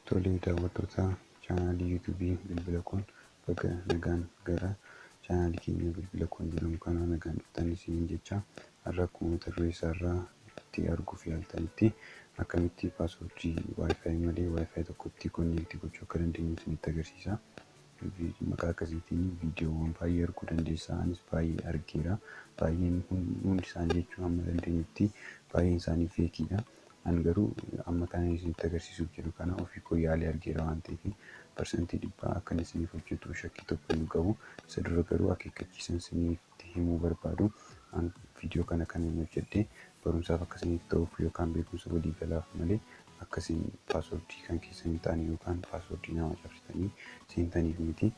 Tolee daawwattoota chaanaalii yuutuubii bilbila kun baga nagaan gara chaanaalii keenya bilbila kun jedhamu kana nagaan dhuftan isiniin jecha har'a akkuma mata duree isaarraa itti arguuf yaaltanitti akkamitti paaswoordii wifi malee wifi tokkotti konneektii gochuu akka dandeenyu isinitti agarsiisa. Beeki maqaa akkasiitiin viidiyoowwan baay'ee arguu dandeessa. Anis baay'ee argeera. Baay'een hundi isaanii jechuun amma dandeenyutti baay'een isaanii feekiidha. An garuu amma kana isinitti agarsiisuuf jedhu kana ofii koo yaalee argeera waan ta'eef parsantii dhibbaa akkan isiniif hojjetu shakkii tokko hin qabu. Isa dura garuu akeekkachiisan isiniif isinitti himuu barbaadu. An viidiyoo kana kan inni hojjedhe barumsaaf akka isiniif ta'uuf yookaan beekumsa walii galaaf malee akka isin paaswordii kan keessan hin taane yookaan paaswordii nama cabsitanii seentaniif miti.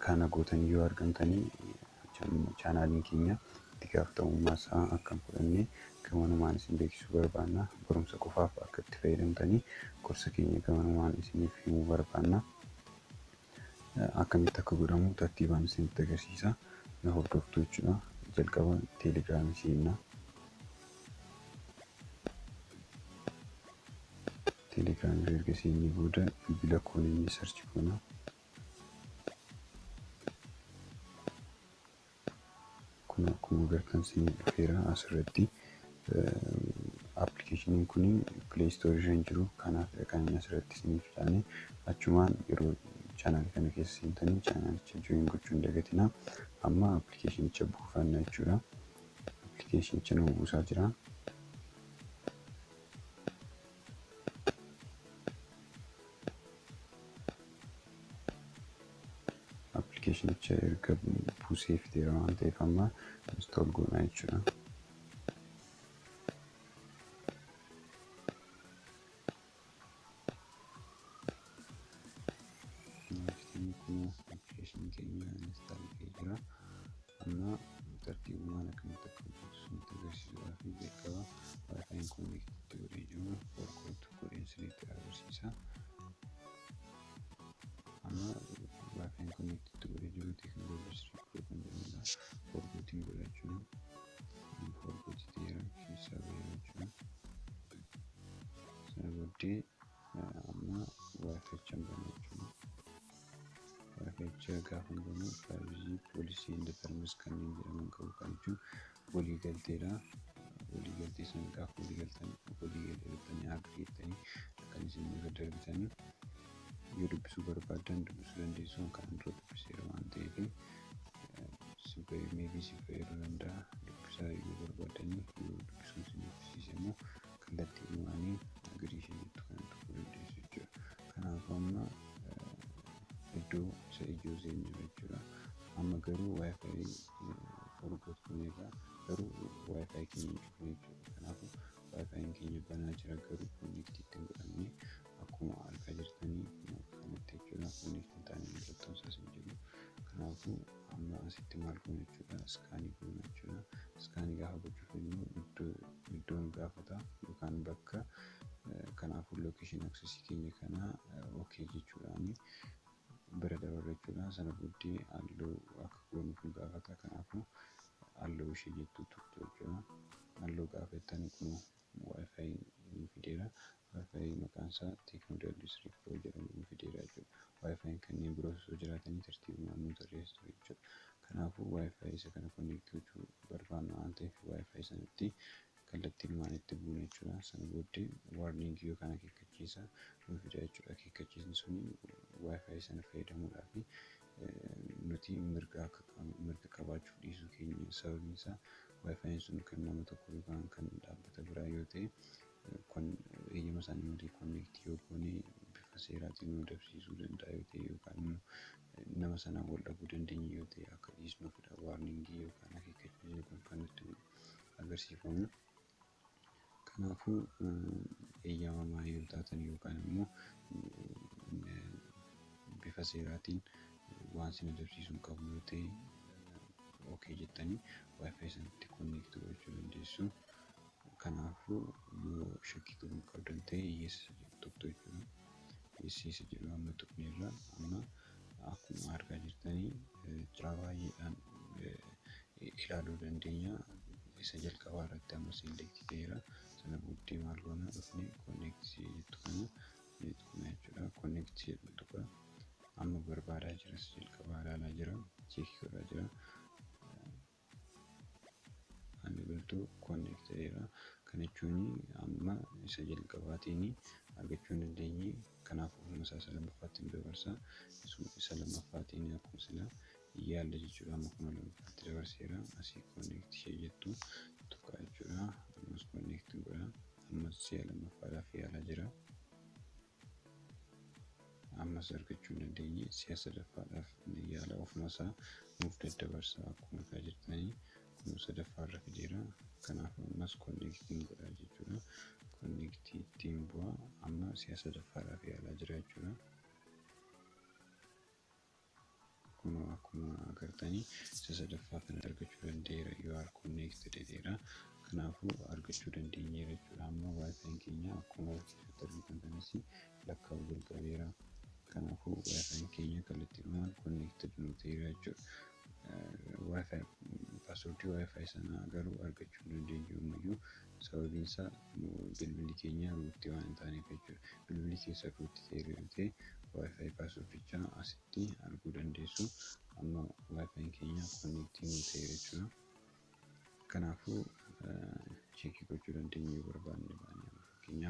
Kana gootanii yoo argamtanii chaanaaliin keenya itti gaafatamummaa isaa akka hin fudhanne gamanumaan isin beeksisuu barbaanna. Barumsa qofaaf akka itti fayyadamtanii gorsa keenya gamanumaan isiniif himuu barbaanna. akkamitti akka godhamu tartiibaan isinitti agarsiisa na hordoftu jechuudha jalqaba teelegiraamii seenna teelegiraamii erga seennee booda bilbila koonii sarchi goona Kun akkuma agartan siin dhufeera asirratti appilikeeshiniin kun pileey istoorii irra hin jiru kanaaf kan inni asirratti isiniif taane achumaan yeroo chaanaal kana keessa seentanii chaanaalicha join gochuu hin dagatina amma appilikeeshinicha buufanna jechuudha appilikeeshinicha nama buusaa jira. appilikeeshinicha erga buusee fideera waan ta'eef amma install goona jechuudha. Inni kun application keenya install ta'ee jira. Amma tartiibumaan akkamitti akka hojjetu isinitti agarsiisuudhaa fi jalqaba wifi'n connect itti godhee jiru forkot godheen isinitti agarsiisa. Amma wifi'n connect itti godhee jiru technology street pro kan jedhamudha. Forkotiin godha jechuudha. Forkot ta'eera keessaa ba'eera jechuudha. Sana booddee amma waaqecha hin banuu jechuudha. Waaqecha gaafa hin banuu faayizii poolisii hin deetarmis kanneen jedhaman qabu kan jechuun walii galteedha. Walii galtee sana gaafa walii galtan walii galtanii agiriittanii kan isin irra darbitanii yoo dubbisuu barbaadan dubbisuu dandeessuun kan dura dubbiseera waan ta'eef si fayyaduu meebii si fayyaduu danda'a dubbisaa yoo barbaadanii yoo dubbisuun isin dubbisiise immoo kallattii lamaaniin girii ishee jettu kana tuquu dandeessu jechuudha. Kanaaf amma iddoo isa ijoo seenneerra jechuudha. Amma garuu wifi forgot gooneerra garuu wifi keenya hin cufne jechuudha. Kanaaf wifiin keenya banaa jira garuu connect itti hin godhamne. Akkuma argaa jirtanii akkuma kanatti jechuudha fuunii kan taane mallattoon isaas hin jiru. Kanaafuu amma asitti maal goona jechuudha iskaanii goona jechuudha. Iskaanii gaafa gochuu fedhnu iddoo iddoo nu gaafata yookaan bakka kanaafuu location access keenya kana ok jechuudhaani bira dabarra jechuudha. Sana booddee allow akka goonuuf nu gaafata kanaafuu allow ishee jettu tuqxu jechuudha. Allow gaafa jettan kunoo Wi-Fi nuu fideera. Wi-Fi maqaan isaa Tecno WS3 Pro jedhamu nuu fideera jechuudha. Wi-Fi'n kanneen biroos osoo jiraatanii tartiibumaan nuu tarreessa ture jechuudha. Kanaafuu Wi-Fi isa kana connect gochuu barbaanna waan ta'eef Wi-Fi sanatti kallattiinumaan itti buuna jechuudha. Sana booddee warning yookaan akeekkachiisa nuu fida jechuudha. Akeekkachiisni suni Wi-Fi sana fayyadamuudhaafi nuti mirga akka qabnu mirga qabaachuuf dhiisuu keenya sababiin isaa wifi'n sun kan nama tokko yookaan kan dhaabbata biraa yoo ta'e kun eeyyama isaanii malee konneektii yoo goone bifa seeraatiin nu dabsiisuu danda'a yoo ta'e yookaan immoo nama sanaan wal dhabuu dandeenye yoo ta'e akka dhiisnuufidha waarningii yookaan akeekkachiisni kun kan nutti agarsiifamu. Kanaafuu eeyyamamaa yoo taatan yookaan immoo bifa seeraatiin waan sin adabsiisu hin qabu yoo ta'e okay jettanii wifi sanatti connect gochuu dandeessu. Kanaafuu yoo shakkii qabu hin qabdan ta'e yes tuqxu jechuudha. Yes isa jedhu amma tuqneerra amma Akkuma argaa jirtanii jiraa baay'eedhaan ilaaluu dandeenya. Isa jalqabaa irratti amma select ta'eera. Sana booddee maal goona dhufne connect jettu kana ni tuqna jechuudha. Connect jedhu tuqa. Amma barbaadaa jira isa jalqabaa ilaalaa jira. Cheekii godhaa jira. Ani biltuu connect ta'eera. Kana jechuun amma isa jalqabaatiin argachuu hin dandeenye. Kanaaf ofuma isaa isa lammaffaatti nu dabarsa. Isuma isa lammaffaatiin akkuma sila yaalle jechuudha. Amma kuma lammaffaatti dabarseera. Asii connect ishee jettu tuqaa jechuudha. Ammas connect godha. Ammas si'a lammaffaadhaaf yaalaa jira. ammas argachuu hin dandeenye si'a sadaffaadhaaf ni yaala ofuma isaa nuuf daddabarsa akkuma argaa jirtanii kun sadaffaa irra fideera kanaaf ammas konneektiin godhaa jechuudha konneektii ittiin bu'aa amma si'a sadaffaadhaaf yaalaa jira jechuudha. kunoo akkuma agartanii isa sadaffaa kana argachuu danda'eera you are connected jedheera kanaafuu argachuu dandeenyeera jechuudha amma wifi keenya akkuma argisiisutti argitan kanas lakkaa'uu jalqabeera kanaafuu wifi keenya kallattiidhumaan connected nu ta'eera jechuudha wifi passwordii wifi sanaa garuu argachuu dandeenyu ammayyuu Sababiin isaa bilbilli keenya root waan hin taaneef jechuudha. Bilbilli keessan root ta'eera yoo ta'e wifi kaasuuf jecha asitti arguu dandeessu. Amma wifi'n keenya connect nuu ta'eera jechuudha. Kanaafuu cheekii gochuu dandeenya yoo barbaanne baanee amma fakkeenyaaf